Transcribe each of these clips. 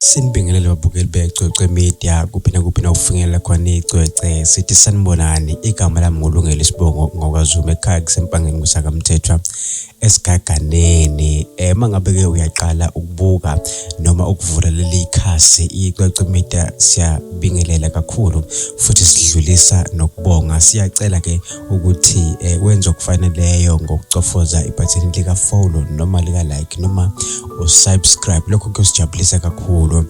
Sinibingelele babukeli beCwecwe Media kuphi nakuphi na ukufinyelela khona icwece sithi sanibonani igama lami ngulungele isibongo ngokwazuma ekhaya kusempangeni kusakamthethwa esigaganeni eh, uma ngabe ke uyaqala ukubuka noma ukuvula leli khasi icwecwe media siyabingelela kakhulu futhi sidlulisa nokubonga siyacela ke ukuthi eh, wenze okufaneleyo ngokucofoza ibhathini lika-follow noma lika-like noma usubscribe lokho kuyosijabulisa kakhulu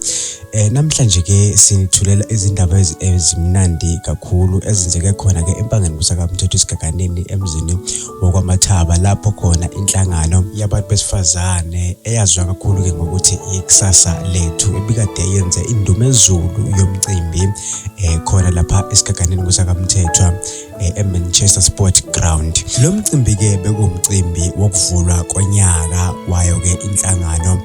eh namhlanje ke sinithulela izindaba ezimnandi kakhulu ezenzeke khona ke empangeni kusaka mthetho isigaganeni emzini wokwamathaba lapho khona inhlangano yabantu besifazane eyaziwa kakhulu ke ngokuthi ikusasa lethu ebikade yenze indumezulu yomcimbi eh khona lapha esigaganeni kusaka mthethwa eh, eManchester Sport Ground. Lo mcimbi ke bekuwumcimbi wokuvulwa konyaka wayo ke inhlangano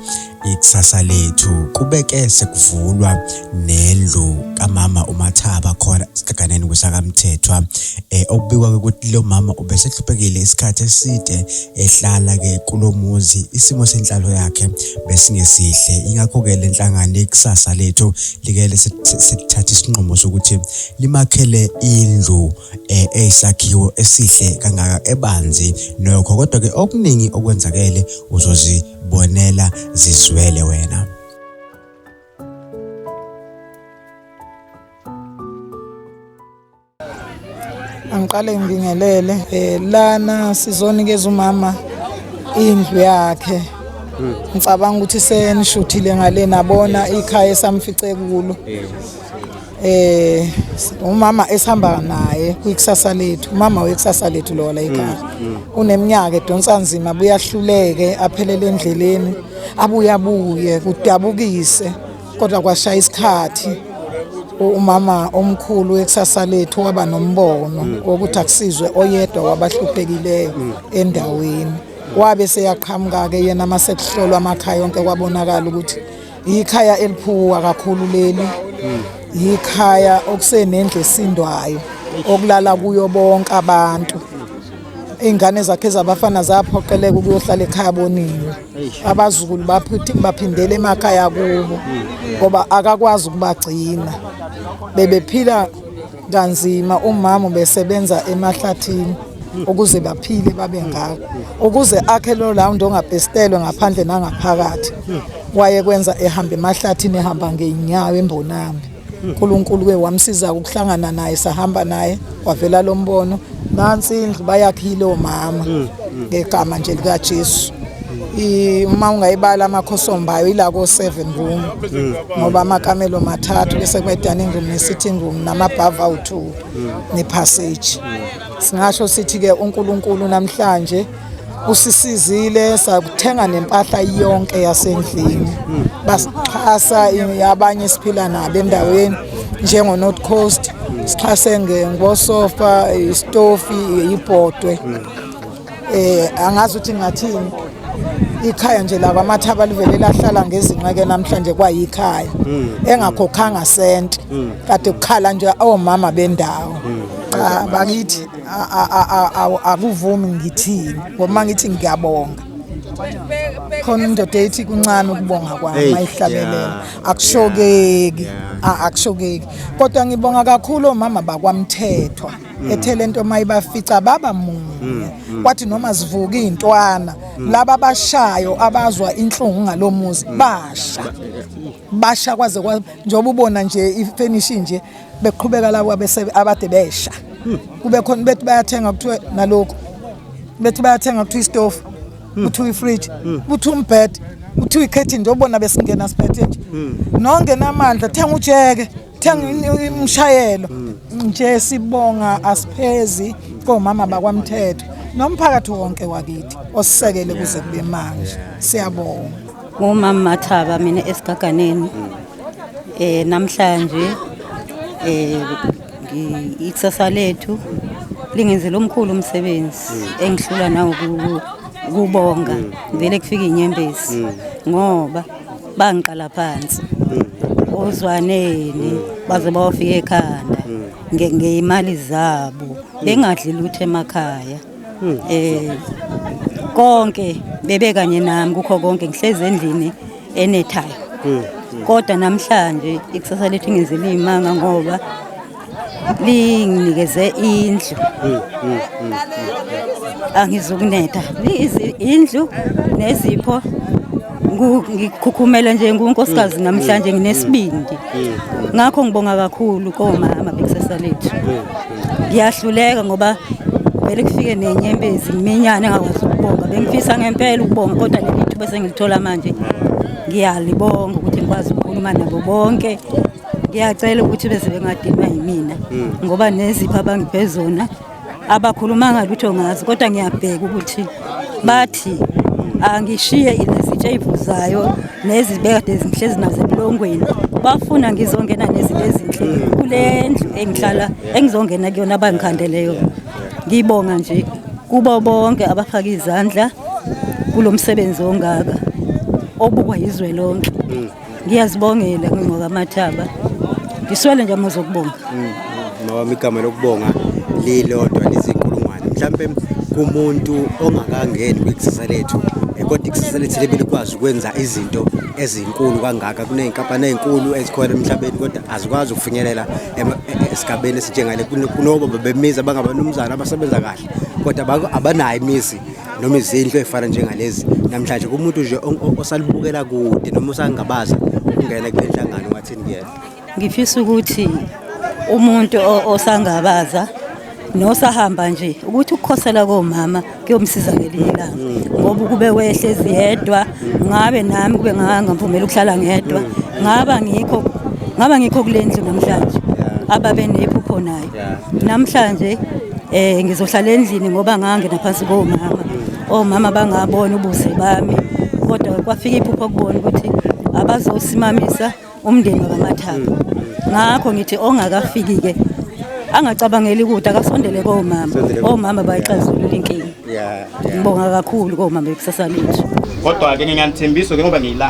ikusasa lethu kubeke sekuvulwa nendlu kamama uMathaba khona esigaganeni kusakamthethwa eh okubikwa ukuthi lo mama ubesehluphekile isikhathi eside ehlala ke kulomuzi isimo senhlalo yakhe besingesihle ingakho ke lenhlangano ikusasa lethu likele sithatha isinqumo sokuthi limakhele indlu eh, eyisakhiwo esihle kangaka ebanzi nokho kodwa ke okuningi okwenzakele uzozibonela zizwele wena Angiqale ngibingelele eh lana sizonikeza umama indlu yakhe. Hmm. Ngicabanga ukuthi senishuthile ngale nabona ikhaya esamfice kulo. Eh umama esihamba naye kwikusasa lethu. Umama wekusasa lethu lo la ikhaya. Hmm, hmm. Uneminyaka edonsa nzima buyahluleke aphelele endleleni abuyabuye kudabukise. kodwa kwashaya isikhathi umama omkhulu wekusasa lethu waba nombono mm. wokuthi akusizwe oyedwa wabahluphekileyo mm. endaweni wabe seyaqhamuka-ke yena uma sekuhlolwa amakhaya onke kwabonakala ukuthi yikhaya eliphuwa kakhulu leli mm. yikhaya okusenendlu esindwayo okulala kuyo bonke abantu iy'ngane zakhe zabafana zaphoqeleka ukuyohlala ekhaya boniwe abazukulu baphindele emakhaya kubo ngoba akakwazi ukubagcina bebephila kanzima umama besebenza emahlathini ukuze baphile babe ngako ukuze akhe lo lawundi ongabhestelwe ngaphandle nangaphakathi wayekwenza ehamba emahlathini ehamba ngey'nyawo embonami uNkulunkulu ke wamsiza ukuhlangana naye sahamba naye wavela lo mbono nansi indlu bayakhile omama mm, mm. ngegama nje likaJesu uma ungayibala amakhosombayo ila ko 7 room mm. ngoba amakamelo mathathu bese kuba dining room ne sitting room namabhava u2 ne passage singasho sithi ke uNkulunkulu namhlanje kusisizile sakuthenga nempahla yonke yasendlini basixhasa abanye siphila nabo endaweni njengo-north coast sixhase ngosofa isitofi ibhodwe um eh, angazi ukuthi ngathini ikhaya nje laba amathaba livele lahlala ngezinqeke namhlanje kwayikhaya hmm. engakhokhanga sente hmm. kade kukhala nje omama bendawo hmm. cha bakithi akuvumi ngithini ngoba ngithi ngiyabonga khona indoda ethi kuncane ukubonga kwami ayihlabelela akushokeki akushokeki kodwa ngibonga kakhulu omama bakwamthethwa Mm. ethele into mayibafica baba munye mm, mm. kwathi noma zivuka izintwana laba bashayo abazwa inhlungu ngalomuzi basha basha kwaze njengoba ubona nje ifinish nje beqhubeka labo abade besha hmm. kube khona bethi bayathenga kuthiwe nalokhu bethi bayathenga kuthiwa istofu hmm. kuthiwa ifridge hmm. kuthiwa umbhede kuthiwa ikhethin nje obona besingena siphethe nje nongenamandla thenga ujeke thenga umshayelo nje sibonga asiphezi komama bakwamthetho nomphakathi wonke wakithi osisekele kuze kube manje siyabonga ngumama Mathaba mina esigaganeni mm. Eh namhlanje eh ikusasa lethu lingenzela omkhulu umsebenzi mm. engihlula nawo kubonga mm. vele kufika inyembezi mm. ngoba bangiqala phansi ozwaneni baze bawafika ekhanda ngeyimali zabo bengadli lutho emakhaya eh konke bebe kanye nami kukho konke ngihlezi endlini enethayo hmm, hmm. kodwa namhlanje ikusasa lethu ingenze liyimanga ngoba linginikeze indlu hmm, angizukunetha indlu nezipho ngikhukhumela nje ngunkosikazi mm. namhlanje mm. nginesibindi mm. ngakho ngibonga kakhulu komama bekusasa lethu ngiyahluleka ngoba vele kufike nenyembezi ngiminyane engakwazi ukubonga bengifisa ngempela ukubonga kodwa leli thuba esengilithola manje ngiyalibonga ukuthi ngikwazi ukukhuluma nabo bonke ngiyacela ukuthi beze bengadinwa yimina hmm. ngoba nezipho abangiphe zona abakhulumanga lutho ngazo kodwa ngiyabheka ukuthi bathi angishiye izitshevu zayo nezibekade zinhle zinazo ebulongweni bafuna ngizongena nezinto ezinhle kule ndlu engihlala engizongena kuyona abangikhandele yona ngibonga nje kubo bonke abafaka izandla kulo msebenzi ongaka obukwa yizwe lonke mm. ngiyazibongela ngingqoka amathaba ngiswele nje amazwi okubonga mm, ngoba mm, igama lokubonga lilodwa lizinkulungwane mhlawumbe kumuntu ongakangeni kwikusasa lethu eh, kodwa ikusasa lethu libe likwazi ukwenza izinto ezinkulu kangaka kuney'nkampani ey'nkulu ezikhona emhlabeni kodwa azikwazi ukufinyelela e, e, esigabeni esinjengale kunoba bebemizi abangabanumzana abasebenza kahle kodwa abanayo imizi noma izindlu ezifana njengalezi namhlanje kumuntu nje osalibukela kude noma usangabaza ukungena kule nhlangano wathini kuyena ngifisa ukuthi umuntu osangabaza nosahamba nje ukuthi ukukhosela komama kuyomsiza ngelinye ilanga mm. ngoba ukube wehlezi yedwa ngabe nami kube ngangamvumela ukuhlala ngedwa mm. ngaba ngikho ngaba ngikho kule ndlu namhlanje ababe nephupho nayo namhlanje um ngizohlala endlini ngoba ngangena phansi komama omama bangabona ubuze bami kodwa kwafika iphupho kubona ukuthi abazosimamisa umndeni wakamathaba ngakho ngithi ongakafiki-ke angacabangeli ukuthi akasondele komama omama bayixazulula inkinga ngibonga kakhulu komama ekusasa lethu kodwa-ke nginganithembiso ke ngoba ngiyila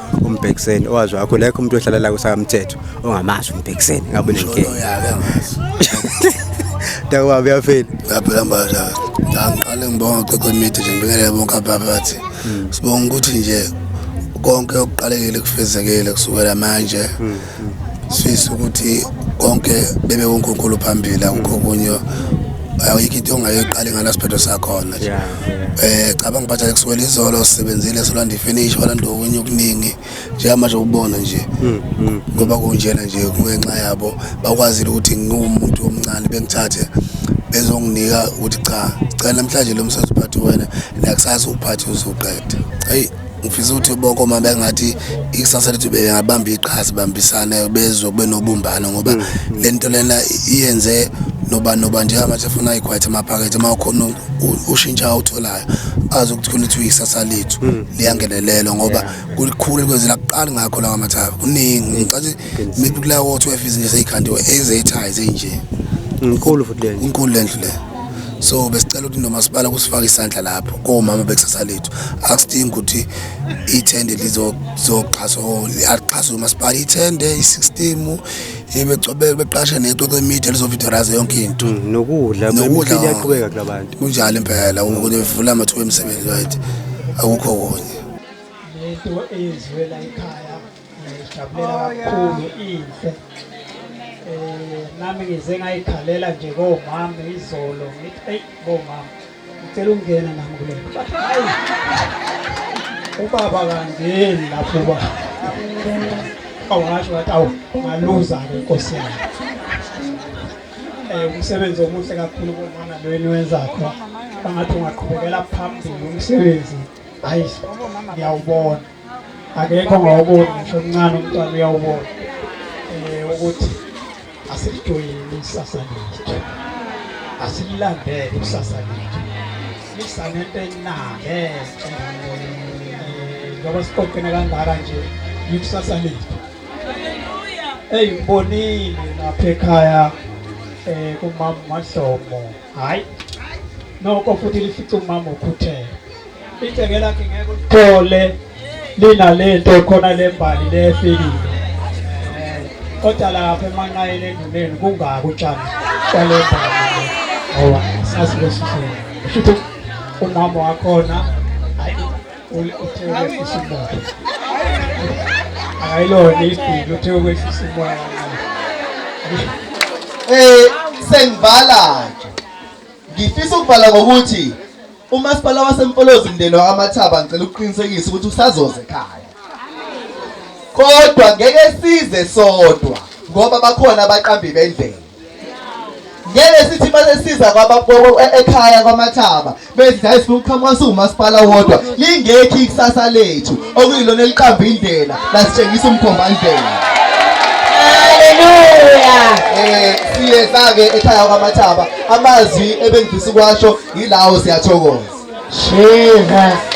umbhekiseni owazi wakho lekho umuntu ohlala la kusakamthetho ongamazi umbhekiseni ngabe nenkinga Dakwabo yaphela. Yaphela mbaza. Ngiqale ngibonga qeqe imithi nje ngibekele bonke ababathi. Sibonga ukuthi nje konke okuqalekile kufezekile kusukela manje. Hmm. sifisa ukuthi konke bebe uNkulunkulu phambili akukho kunye ayikho into ongayiqali ngala siphetho sakhona nje eh cabanga bathi akuswela izolo sisebenzile solanda ifinish walanda okunye okuningi njengamanje ubona nje mm, mm. ngoba kunjena nje kungenxa yabo bakwazile ukuthi ngiwumuntu omncane bengithathe bezonginika ukuthi cha cela namhlanje lo msebenzi uphathe wena nakusasa uphathe uzoqeda hey ngifisa ukuthi ubokoma bengathi ikusasa lethu bengabamba iqhaza bambisane bezwe kube nobumbano ngoba mm, mm. le nto lena iyenze noba noba njengamanje afuna ayikhwayithe amaphakethe uma ukhona ushintsha awutholayo azi ukuthi khona ukuthi uyikusasa lethu mm. liyangenelelwa ngoba kulikhulu likwenzela kuqali ngakho lawa mathaba kuningi ngicathi maybe kulawo 12 izinto seyikhandiwe ezeyithayi zinje inkulu futhi le inkulu le ndlu le so besicela ukuthi nomasipala kusifaka isandla lapho komama bekusasa lethu akusidingi ukuthi ithende lizoxhaswa axhaswe umasipala ithende isistimu ibecobeke beqashe nexoxo imedia lizovidoraza yonke into mm, nokudla nokudla kuyaqhubeka kulabantu kunjalo impela ukuthi bevula amathuba emisebenzi right akukho kunye lento eyenziwe la ekhaya Ngijabulela kakhulu inhle. Eh nami ngize ngayikhalela nje komama izolo ngithi hey bomama ngicela ukungena nami kule. Hayi. Ubaba kangeni lapho ba. Awasho wathi awu ngaluza ke inkosi yami. Eh umsebenzi omuhle kakhulu bomama lo eniwenza kho. Bangathi ungaqhubekela phambili umsebenzi. Hayi ngiyawubona. akekho ngawuboni ngisho omncane umntwana uyawubona um ukuthi asilijoyini isasa lethu asililandele ikusasa lethu lisanento enale ngoba siqoqene kangaka nje yikusasa lethu eyi ngibonile lapha ekhaya um kumama mahlomo hayi noko futhi lifica umama ukhuthele iceke lakhe ngeke uthole linalento khona lembali lefikile eh, kodwa lapha emanqayeni enduneni kungaki utshani kwalembali ngoba sasibesisile shuthi umama wakhona ayilona isidingo uthe ukwehlisa umoya eh sengivala nje ngifisa ukuvala ngokuthi umasipala wasemfolozi mndeni wakamathaba ngicela ukuqinisekisa ukuthi usazoze ekhaya kodwa ngeke size sodwa ngoba bakhona abaqambi bendlela ngeke sithi basesiza e-, ekhaya kwamathaba bethi hayi sifuna ukuqhamuka siwumasipala wodwa lingekho ikusasa lethu okuyilona eliqamba indlela lasitshengisa umkhombandlela haleluya eh siyeza-ke ekhaya kwamathaba amazwi ebengifisa ukwasho yilawo siyathokoza jesus